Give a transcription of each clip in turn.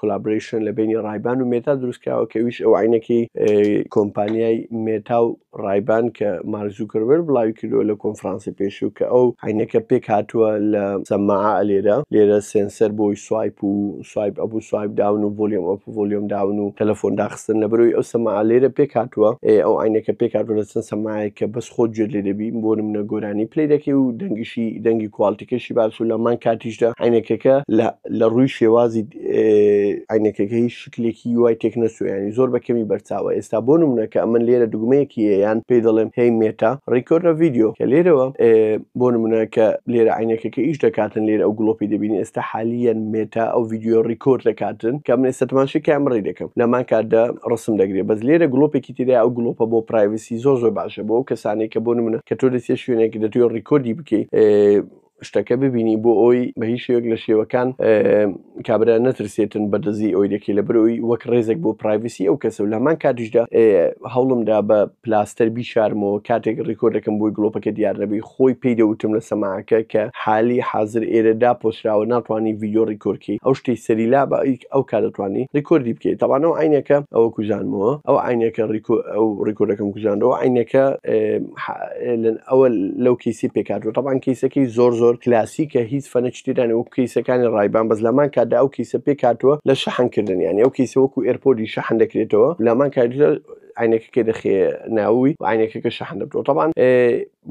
کۆلابرەیشن لە بینی ڕایبان و مێتا دروستکراوە کە ویش ئەو عینەکەی کۆمپانیای مێتا و ڕایبان کە مارزوکربەر بڵاوی کردووە لە کۆنفرانسی پێشوو کە ئەو عینەکە پێک هاتووە لە سەماع لێرە لێرە سێنسەر بۆی سوایپ و سوایپ ئەبوو سوایپ داون و ڤۆلیۆم ئەپ و ڤۆلیۆم داون و تەلەفۆن داخستن لە بەرەوەی ئەو سەماع لێرە پێک هاتووە ئەو عینەکە پێک هاتووە لە چەند سەماعێک کە بەس خۆت گوێت لێ دەبی بۆ نمونە گۆرانی پلەی دەکەی و دەنگیشی دەنگی کوالتیکەشی باس و لە هەمان کاتیشدا عینەکەکە لە لە ڕووی شێوازی عینەکەکەی شکلێکی وای تێک نەسویانی زۆر بە کەمی بەرچاوە ئێستا بۆ نمونە کە ئەمن لێرە دوگمەیەکی یان پێی دەڵێم هی مێتا ڕیکۆرە ڤیددیو کە لێرەوە بۆ نمونە کە لێرە عینەکەکە ئیش دەکاتن لێرە ئەو گڵۆپی دەبینی ئێستا حالیان مێتا ئەو ڤیددیو ڕیکۆر دەکاتن کە من ئێستا تماشی کام ڕێ دەکەم لەمان کاتدا ڕسم دەگرێت بەس لێرە گڵۆپێکی تیدا ئەو گڵۆپە بۆ پرایڤسی زۆر زۆر باشە بۆ کەسانێک کە بۆ نمونە کە تۆ دەسێ شوێنێک دەتوێت ڕیکۆردی بکەیت شتەکە ببینی بۆ ئەوی بە هیچ شێوەک لە شێوەکان کابرا نەترسێتن بە دزی ئەوی دەکەی لە برەوەی وەک ڕێزێک بۆ پرایڤسی ئەو کەسە و لەمان کاتیشدا هەوڵمدا بە پلاستەر بیشارمەوە کاتێک ڕیکۆردەکەم بۆی گلۆپەکە دیار نەبی خۆی پێی دەوتم لە سەماعەکە کە حالی حاضر ئێرەدا پۆسراوە ناتوانانی ڤیددیو ڕیکۆرکی ئەو شتی سەری لا بە ئەو کارەتوانی ڕیکۆردی بکەیت تاوانەوە عینەکە ئەوە کوژانمەوە ئەو عینەکە ڕیکۆ ئەو ڕیکۆردەکەم کوژانەوە عینەکە ئەوە لەو کیسی پێکاتوە تەبان کیسەکەی زۆر زۆر کلاسیکە هیچ فەنە چتیرانی وەک کیسەکانی ڕایبان بەس لەمان کاتدا ئەو کیسە پێکاتوە لە شەحنکردن یانی ئەو کیسە وەکو ئێرپۆدی شەحن دەکرێتەوە لەمان کات عینەکەکە دەخێ ناوی عینەکەکە شەحن دەبتەوە تەبان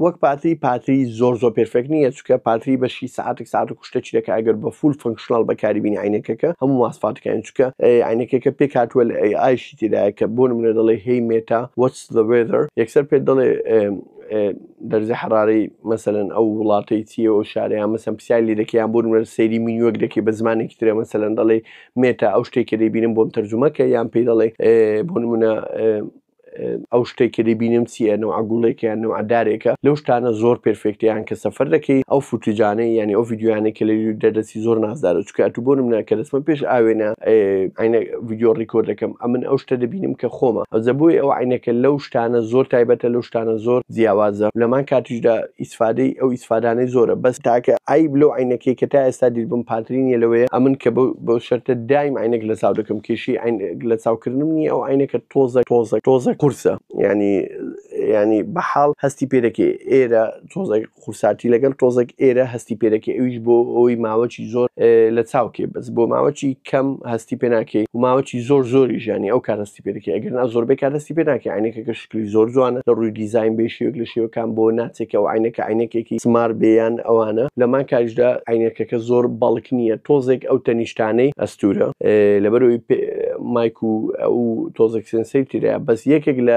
وەک پارتی پارتی زۆر زۆر پرفێک نییە چکە پارتی بەشی ساعتێک ساعت و کوشتە چیرەکە ئەگەر بە فول فنکشنال بەکاری بین عینەکەکە هەموو ماسفاتەکان چکە عینەکەکە پێکاتوە لە ئای ئایشی تێدایە کە بۆ منە دەڵێ هی مێتا وەچ The weather یەکسەر پێت دەڵێ دەرزی حەرارەی مەسەن ئەو وڵاتەی چیە و شارەیان مەسم پرسیای لێ دەکەیان بۆ نوێر سەیری مینوەک دەکەی بە زمانێکی ترە مەسەن دەڵێ مێتا ئەو شتێک کە دەیبینم بۆم تەرجمەکە یان پێی دەڵێ بۆ نمونە ئەو شتێک کە دەبینم چیە نەوە گوڵێکیان نەوە دارێکە لەو شتانە زۆر پرفێکتیان کە سەفەر دەکەی ئەو فوتوجانەی یعنی ئەو یددیوانێک کە لە دەردەسی شتێکی زۆر نازدارە چکە ئەتو بۆ منە کە دەستمە پێش ئاوێنە ئاینە ڤیددیو ڕیکۆرد دەکەم ئەمن ئەو شتە دەبینم کە خۆمە ئەزە بۆی ئەو عینەکە لەو شتانە زۆر تایبەتە لەو شتانە زۆر جیاوازە لەمان کاتیشدا ئیسفادەی ئەو ئیسفادانەی زۆرە بەس تاکە ئای بلو عینەکەی کە تا ئێستا دیربم پاترینە لەوەیە ئەمن کە بەو شەرتە دایم عینەک لە چاو دەکەم کێشی لە چاوکردنم نیە ئەو عینەکە تۆزە تۆزە تۆزە قورسە ینی ینی بەحاڵ هەستی پێ دەکەی ئێرە تۆزە خوسارتی لەگەل تۆزەک ئێرە هەستی پێدەکەی ئەویش بۆ ئەوی ماوەچی زۆر لە چاوکێ بەس بۆ ماوەچی کەم هەستی پێ ناکەی و ماوەچی زۆر زۆری ژانی ئەو کار هەستی پێدەکەی ئەگەر نا زۆربەی کار هەستی پێ ناکەی عینەکەکە شکلی زۆر جوانە لە ڕووی دیزین بێ شێوک لە شێوکان بۆ ناچێکە و عینەکە عینەکێکی سمار بێیان ئەوانە لەمان کاریشدا عینەکەکە زۆر بەڵک نییە تۆزێک ئەو تەنیشتانەی ئەستورە لەبەرەوەی مایک و ئەو تۆزێک سنسەی ترە بەس یەکێک لە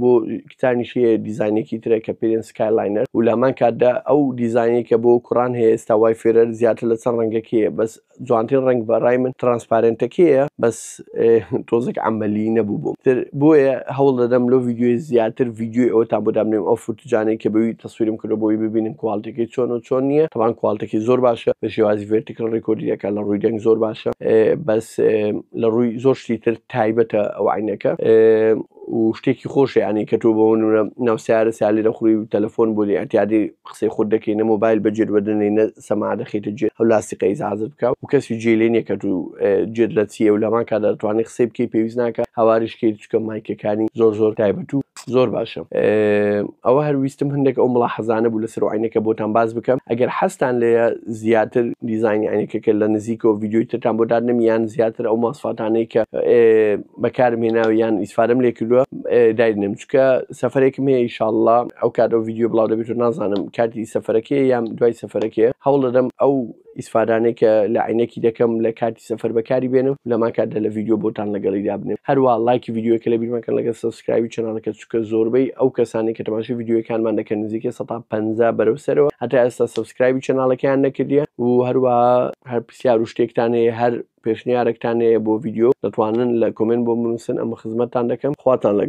بۆ کتانیش هەیە دیزانێکی ترە کە پێرێن سکایلاینەر و لامان کاتدا ئەو دیزانەی کە بۆ کوڕان هەیە ئێستا وای فێرەر زیاتر لە چەند ڕەنگەکەیە بەس جوانتر ڕنگ بە ڕای من ترانسپارنتەکەیە بەس تۆزێک ئەمەلی نەبوو بووم تر بۆیە هەوڵ دەدەم لۆ یددیوی زیاتر یددیوی ئەوتان بۆ دابنێم ئەو فرتجانەی کە بەوی تەسوورم کردو بۆی ببینم کوالتەکەی چۆن و چۆن نییە تەوان کوالتەکەی زۆر باشە لە شێوازی ڤێرتیکل ڕێکۆردیەکە لە ڕووی دەنگ زۆر باشە بەس لە ڕووی زۆر شتی تر تایبەتە ئەو عینەکە و شتێکی خۆش یعنی کە تۆ بۆ نمونە ناو سیارە سالی دەخڕی و تەلەفۆن بۆ ئەتیادی قسەی خۆت دەکەی نە مۆبایل بەجێت وەدەنەی نە سەما دەخیتە جێ ئەو لاستیقە ئیزعاجت بکە و کەسی جێ لێ نیە کە تو جێت لە چیە و لەمان کادا دەتوانانی قسەی بکەی پێویست ناکە هاواریش کەی چکە مایکەکانی زۆر زۆر تایبەت و زۆر باشە ئەوە هەر ویستم هەندێک ئەو مڵاحەزانە بوو لەسەر عینەکە بۆتان باس بکەم ئەگەر حەستان لێە زیاتر دیزانی عینەکەکە لە نزیکەوە ڤیددیوی ترتان بۆ دادنمیان زیاتر ئەو ماسفاتانەی کە بەکارم هێناوە یان ئیسفادەم لێ کردووە داینم چکە سەفرێکم هەیە ئیشاءله ئەو کات ئەو ڤیددیو بڵاو دەبێت و نازانم کاتی سەفرەکەی یان دوای سەفرەکەی هەوڵ دەدەم ئەو ئیسفادانەی کە لە عینەکی دەکەم لە کاتی سەفەر بەکاری بێنم لەما کاتدا لە ڤیددیو بۆتان لەگەڵی دابنێ هەروە لایکی ڤیددیوەکە لە بیرمەکەن لەگە سبسکراوی چنانەکە چکە زۆربەی ئەو کەسانی کە تەماشی ڤیددیوەکانمان دەکەن نزیکە 150 بەرەو سەرەوە هەتا ئێستا سبسکراوی چناڵەکەیان نەکردیە و هەروە هەر پرسیار و شتێکتانەیە هەر پێشنیارێکتان هەیە بۆ ڤیدیۆ دەتوانن لە کۆمێنت بۆم بنووسن ئەمە خزمەتتان دەکەم خواتان لەگەڵ.